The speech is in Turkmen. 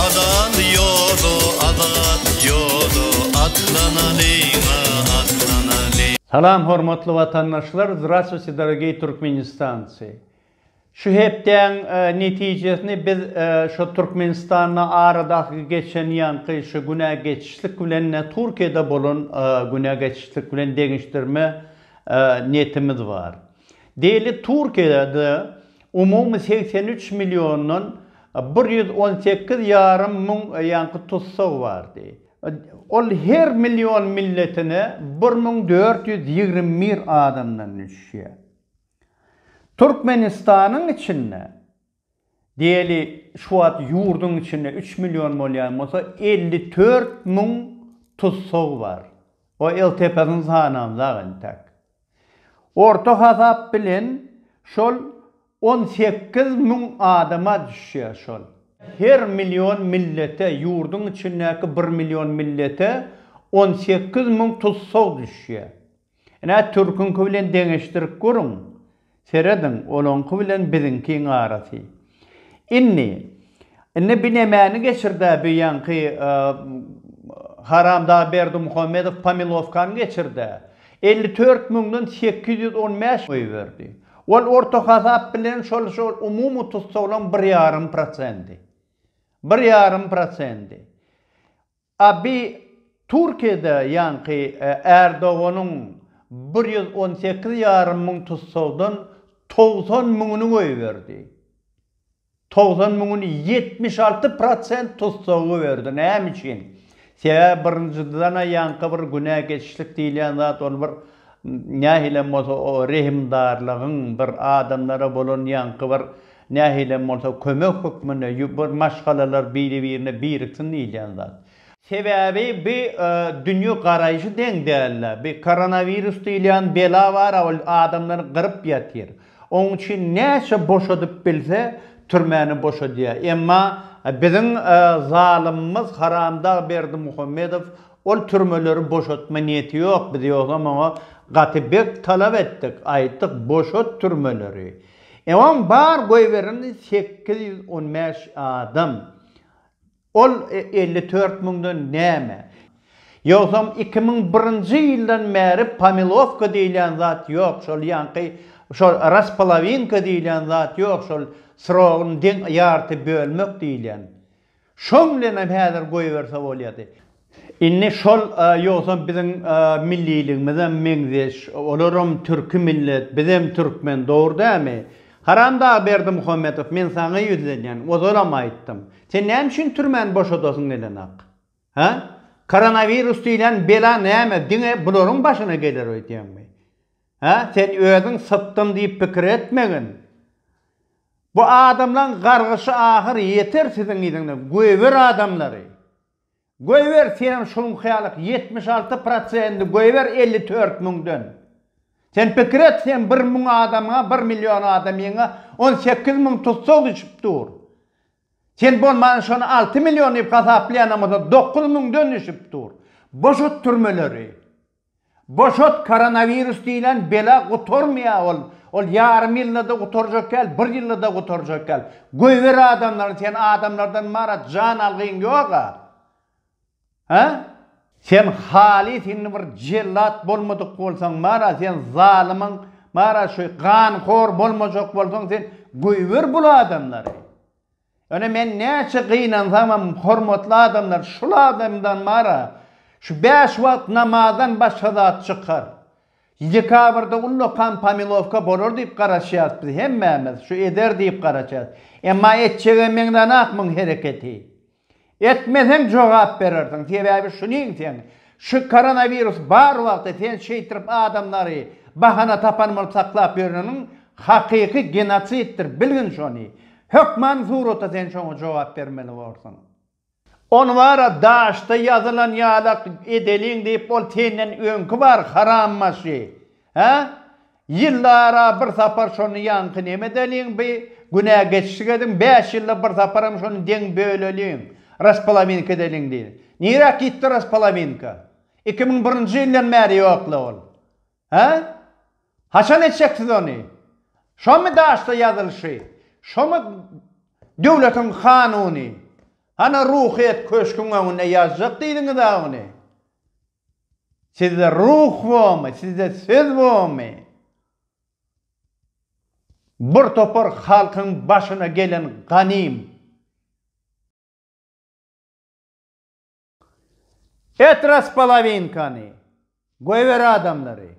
Azat ýoly, azat ýoly, atlanalyň-a, atlanalyň. Salam hormatly watandaşlar Zdrastwuyte dorogiý Türkmenistancy Şu hepdäň netijesini biz şo Türkmenistanda aradaky geçen ýaňky şo günä geçişlik bilen-de Türkiýede bolan günä geçişlik bilen deňeşdirme netimiz bar. Diýeli Türkiýede umumy segsen üç milliondan bir ýüz on sekiz ýarym müň ýaňky tussag bardy. Ol her million milletine bir müň dört ýüz ýigrimi bir adamdan düşýär. Türkmenistanyň içinde Diýeli, şu wagt ýurduň içinde üç million bolýan bolsa, elli dört müň tussag bar. O ltp-sini sanamzak entek. Orta hasap bilen şol on sekiz müň adama düşýär şol. Her million millete, ýurduň içindäki bir million millete on sekiz müň tussag düşýär. Ine, türküňki bilen deňeşdirip görüň. Serediň, olaňky bilen biziňkiň arasy. Indi, indi binemäni geçir-de, bu ýaňky haramdag Berdimuhamedow Pomilowkany geçir-de, elli dört müňden sekiz ýüz on bäş goýberdi. Ol orta hasap bilen şol, şol umumy tussaglaryň bir ýarym prosendi. Bir ýarym prosendi. Abi Türkiýede ýaňky Erdoganyň bir ýüz on sekiz ýarym müň tussagdan togsan müňüni goýberdi. Togsan müňüni ýetmiş alty prosent tussagy goýberdi. Näme üçin? Sebäbi birinjidena ýaňky bir günä geçişlik diýilýän zat ol bir nähilem bolsa o rehimdarlygyň bir adamlara bolan ýaňky bir Nähili hem bolsa kömek hökmünde bir maşgalalar biri-birine biriksin diýilýän zat. Sebäbi bi dünýe garaýşy deň dälde. Bi koronawirus diýilýän bela bar-a ol adamlary gyryp ýatyr. Oň üçin näçe boşadyp bilse türmäni boşadýar. Emma biziň zalymymyz haramdag Berdimuhamedow ol türmeleri boşatma niýeti ýok. Biz ýogsam oňa gaty bek talap etdik, aýtdyk boşat türmeleri. Ewaň bar goýbereni sekiz ýüz on bäş adam. Ol elli dört müňden näme? Ýogsam iki müň birinji ýyldan bäri pomilowka diýilýän zat ýok, şol ýaňky şol raspolowinka diýilýän zat ýok, şol srogyny deň ýarty bölmek diýilýän. Şoň bilenem häzir goýberse bolýady. Indi şol ýogsam biziň milliligimizem meňzeş, olaram türki millet, bizem türkmen, dogry dämi? Haramdag Berdimuhamedow, men saňa ýüzlenýän, ozalam aýtdym. Sen näme üçin türmäni boşadasyň gelenok? Hä? Koronawirus diýlen bela näme, diňe bularyň başyna geler öýdýäňmi? Hä? Sen özüň sypdym diýip pikir etmegin. Bu adamlaň gargyşy ahyr ýeter siziň yzyňda göýber adamlary. Göýber senem şuňky ýalyk ýetmiş alty prosendi göýber elli tört müňden. Sen pikir et sen bir müň adamyňa bir million adamyňa on sekiz müň tussag düşüp dur. Sen bolmany şony alty million diýip hasaplaýanam bolsa dokuz müňden düşüp dur. Boşat türmeleri. Boşat koronawirus diýlen bela gutarmaýa ol ol ýarym ýyldada gutarjak däl bir ýyldada gutarjak däl goýber adamlaryny sen adamlardan marat jan algyň ýoga ha. Sen halys indi bir jellat bolmadyk bolsaň mara sen zalymyň mara şu ganhor bolmajak bolsaň sen goýber bul adamlary. Ýöne men näçe gynansamam hormatly adamlar şul adamdan bara şu bäş wagt namazdan başga zat çykar. Dekabrda ullakan pomilowka bolar diýip garaşýas biz hemmämiz şu eder diýip garaşýas. Emma etjege meňzänok muň hereketi. Etmeseň jogap berersiň sebäbi şunyň sen şu koronawirus bar wagty sen şeýtirip adamlary bahana tapan bolup saklap ýöreniň hakyky genosiddir bilgin şony hökman surata sen şoňa jogap bermeli borsuň. Ony bara daşda ýazylan ýalak edeliň diýip ol senden öňki bar haram başy Hä? Ýyllara bir sapar şony ýaňky neme edeliň bi günä geçişik ediň, bäş ýylda bir saparam şony deň böleliň, raspolowinka edeliň diýdi. Niräk gitdi raspolowinka? Iki müň birinji ýyldan bäri ýok-la ol. Hä? Haçan etjeksiz ony? Şomy daşda ýazylyşy? Şomy döwletiň kanuny? Hany Ruhyýet köşküň öňünde ýazjak diýdiňiz-ä ony? Sizde ruh bormy, sizde söz bormy? Bir topar halkyň başyna gelen ganym. Et raspolowinkany, goýber adamlary.